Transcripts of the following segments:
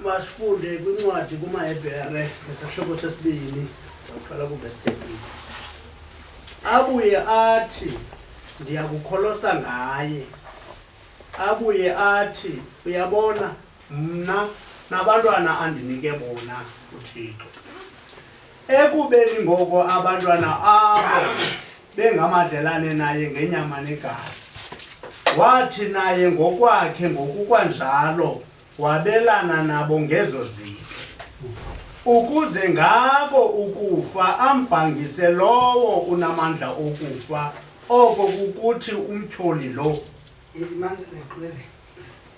masifunde kwincwadi kumahebhere ngesahlobo sesibini saqala kuvesitebisi abuye athi ndiyakukholosa ngaye abuye athi uyabona mna nabantwana andinike bona uthixo Ekubeni ngoko abantwana abo bengamadlelane naye ngenyama negazi, wathi naye ngokwakhe ngokukwanjalo wabelana nabo ngezo zinto, ukuze ngabo ukufa ambhangise lowo unamandla okufa, oko kukuthi umtyholi lo. Imandla leqile.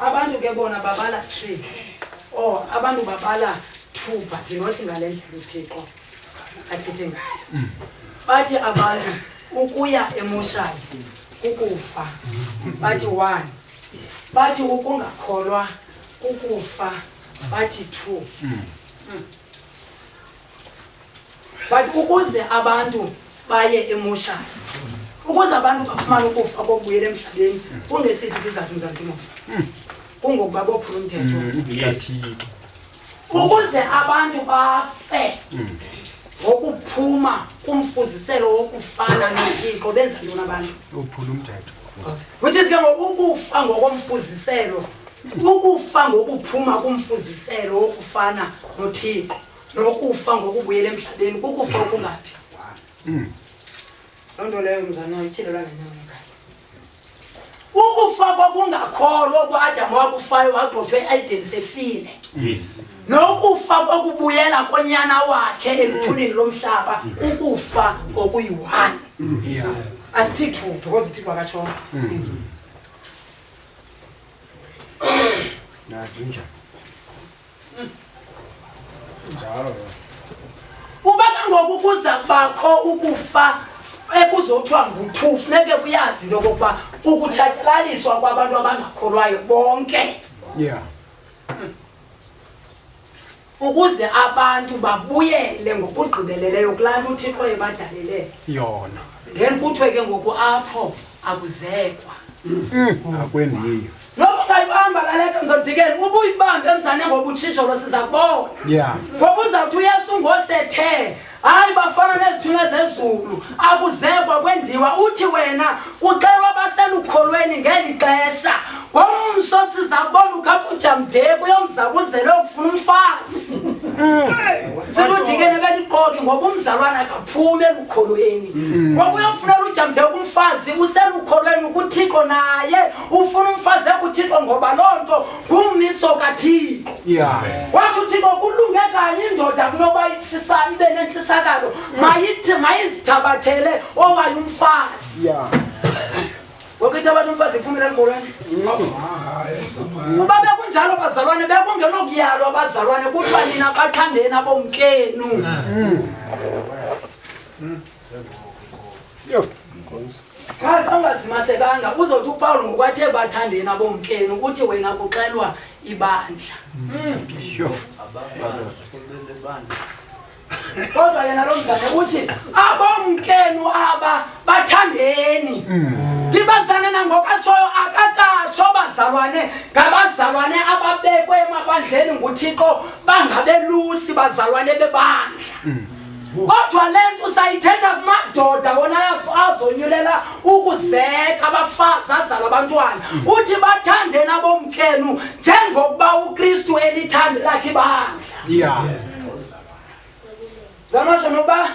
abantu ke bona babala three or abantu babala two but not ngale ndlela uthixo athethe ngayo mm. bathi abantu ukuya emoshadi kukufa bathi one bathi ukungakholwa kukufa bathi two mm. Mm. but ukuze abantu baye emoshana ukuze abantu bafumane ukufa kokubuyela emhlabeni kungesiphi isizathu mzantimo kungokuba bophula umthetho ukuze abantu bafe ngokuphuma kumfuziselo wokufana nothixo benza ntoni abantu uphula umthetho which is ke ngoku ukufa ngokomfuziselo ukufa ngokuphuma kumfuziselo wokufana nothixo nokufa ngokubuyela emhlabeni kukufa okungaphi hmm. loo nto leyo mzana ityhilelwa ngenyaomkazi ukufa kwakungakholwa kuadam wakufayo wagxothwe eaiden sefile nokufa kwakubuyela konyana wakhe eluthulini lomhlaba ukufa kokuyi-one asithi thu because uthixo wakatshona hmm. nazinjani Njalo. Uba kangoku kuza kubakho ukufa ekuzothiwa nguthu funeke kuyazi into yokokuba ukutshatyalaliswa kwabantu abangakholwayo bonke yeah ukuze abantu babuyele ngokugqibeleleyo kulaa nto uthixo ebadalele yona then kuthiwe ke ngoku apho akuzekwa mm. akwendiyo noba ungayibamba laleka mzodikeni uba uyibambe emzane ngoba utshitsholo siza kubona yeah. ngoba uzawuthi uyesu ngosethe hayi bafana nezithunywa zezulu akuzekwa kwendiwa uthi wena kuxelwa baselukholweni ngeli xesha ngomso sizabona ukhapuja mdeko uyomzakuzele okufuna umfazi siludikene beliqoki ngoba umzalwana akaphume elukholweni ngoba uyofunela ujamdeko umfazi uselukholweni ukuthixo naye ufuna umfazi ekuthixo ngoba loo nto ngummiso kathixo wathi uthixo kulunge kanye indoda kunoba itshisa ibe nentshisakalo mayithi mayizithabathele owaye umfazi Wakithi abantu umfazi iphumela emgolweni. Uba bekunjalo bazalwane bekungenokuyalwa abazalwane kuthiwa nina bathandeni abomkenu. Qha xa ungazimasekanga uzothi uPawulu ngokwathe bathandeni abomkenu ukuthi wena kuxelwa ibandla. kodwa yena lo mzane uthi abomkenu aba bathandeni ndibazane mm. nangokatshoyo akakatsho bazalwane ngabazalwane ababekwe emabandleni nguthixo bangabelusi bazalwane bebandla mm. kodwa le nto usayithetha kumadoda wona azonyulela ukuzeka abafazi azala abantwana uthi bathandeni abomkenu njengokuba ukristu elithande lakhe ibandla Yeah. Zamasho noba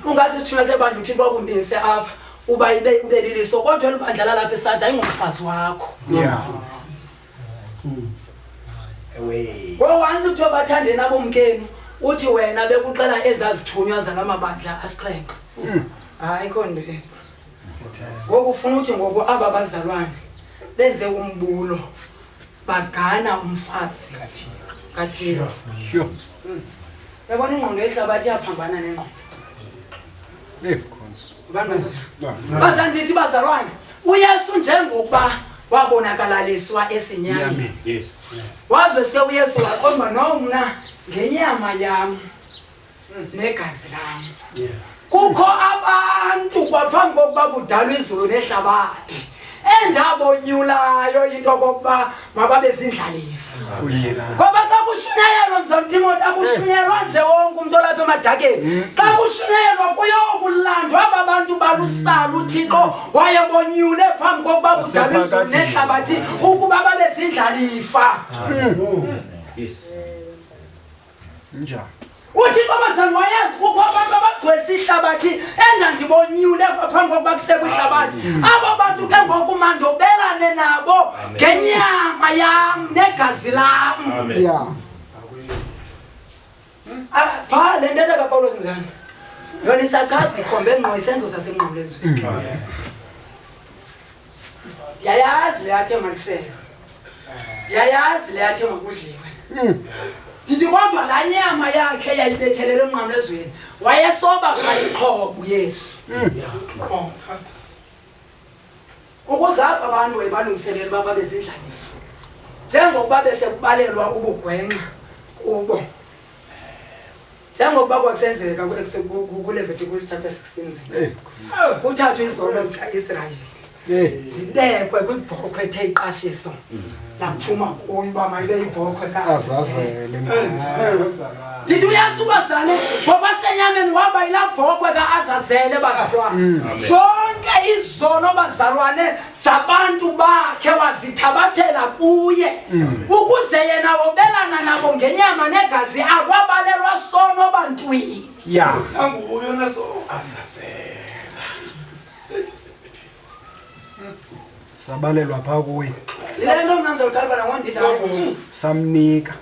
ungasithuna sebandla uthini bakumbinise apha uba ibe ubeliliso kodwa elibandla lalapha esada ingumfazi wakho. Yeah. Away. Ngoba wansi kuthiwa bathande nabo mkenu uthi wena bekuxela ezazithunywa zalamabandla asixhenxe. Hayi konto e. Ngoku ufuna uthi ngoku aba bazalwane benze umbulo. bagana umfazi kathixo yabona ingqondo yehlabathi iyaphambana nengqondo bazandithi bazalwane uyesu njengokuba wabonakalaliswa esinyameni waveske uyesu wakhomba nomna ngenyama yam negazi lam kukho abantu kwaphambi kokuba kudalwa izulu nehlabathi endabonyulayo into okokuba mababe zindlalifa ngoba xa kushunyayelwa mzamtimoti akushunyelwa nje wonke umntu olapha emadakeni mm. xa kushunyayelwa kuyokulandwa aba bantu balusala uthixo wayebonyule phambi kokuba kudalwa izulu nehlabathi ukuba babe zindlalifa mm. Njani? Uthi intombazana wayazi kukho abantu abagcwelisa ihlabathi endandibonyule phambi kokuba kusekwe ihlabathi. Abo bantu ke ngoku mandobelane nabo ngenyama yam negazi lam. Yeah. Ah, pha le ntetha kaPawulos mzana. Yona isachaza ikhombe ngqo isenzo sasemnqamlezweni. ndiyayazi le yathe maliselo ndiyayazi le yathe makudliwe ndithi kodwa laa nyama yakhe yayibethelele emnqamlezweni wayesoba kubayiqhobo yesu ukuze apha abantu wayebalungiselela uba babe zindlalifa njengokuba besekubalelwa ubugwenxa kubo njengokuba kwasenzeka kuLevitiko chapter 16 kuthathwa izono zikaIsrayeli zibekwe kwibhokhwe ethe iqashiso laphuma kuyo uba mayibe yibhokhwe ndithi uyazi ubazale ngoba senyameni waba yilaa bhokhwe kaazazele bazalwane mm. zonke izono bazalwane zabantu bakhe wazithabathela kuye mm. ukuze yena wobelana nabo ngenyama negazi akwabalelwa sono bantwini ya anguyo naso asasela sabalelwa pha kuye le nto mna ndizawutalibana wondidala samnika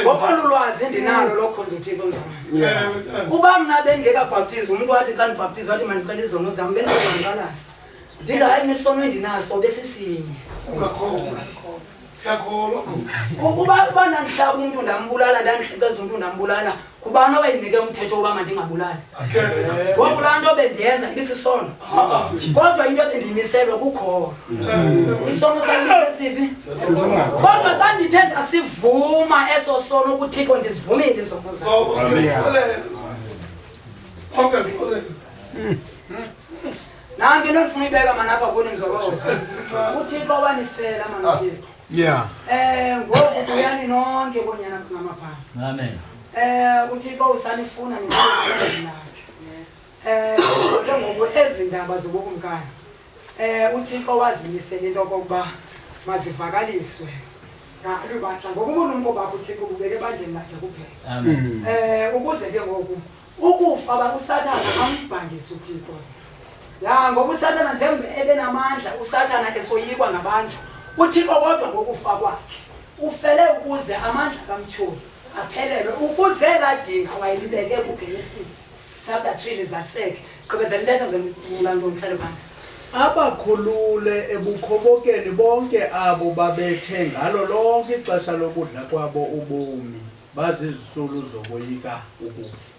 ngophanda ulwazi endinalo lokhonza uthixo mzamana uba mna bengekabhaptizi umntu wathi xa ndibhaptizi wathi mandixela izono zam bendizanqalaza ndithi hayi misono endinaso besisinye ukuba uba ndandihlaba umntu ndambulala ndandihlekeza umntu ndambulala kubani owayendinike umthetho wokuba mandingabulali ngoku laa nto bendiyenza ibisisono kodwa into ebendiyimiselwe kukholo isono salisesivi kodwa xa ndithe ndasivuma eso sono ukuthixo ndizivumile izono nanto into ndifuna uyibeka manapha kuni mzokoo uthixo wanifela manthixo Yeah. Eh ngoku buyani nonke bonyana kunamapha. Amen. Eh uThixo usanifuna nina. Eh ke ngoku ezi ndaba zobukumkani. Eh uThixo wazimisele into kokuba mazivakaliswe. Ngathi batha ngokuba uNkulunkulu bakho uThixo ubeke bandleni lakhe kuphela. Amen. Eh ukuze ke ngoku ukufa bakusathana ambhangisa uthixo ya ngoba usathana njengoba ebenamandla usathana esoyikwa ngabantu uthixo kodwa ngokufa kwakhe ufele ukuze amandla kamtyholi aphelelwe ukuze ladinga wayelibeke kugenesis chapter 3 lizaliseke gqibezela intetha mzemlula nto mhlale phantsi abakhulule ebukhobokeni bonke abo babethe ngalo lonke ixesha lokudla kwabo ubomi Bazizisulu zokoyika ukufa.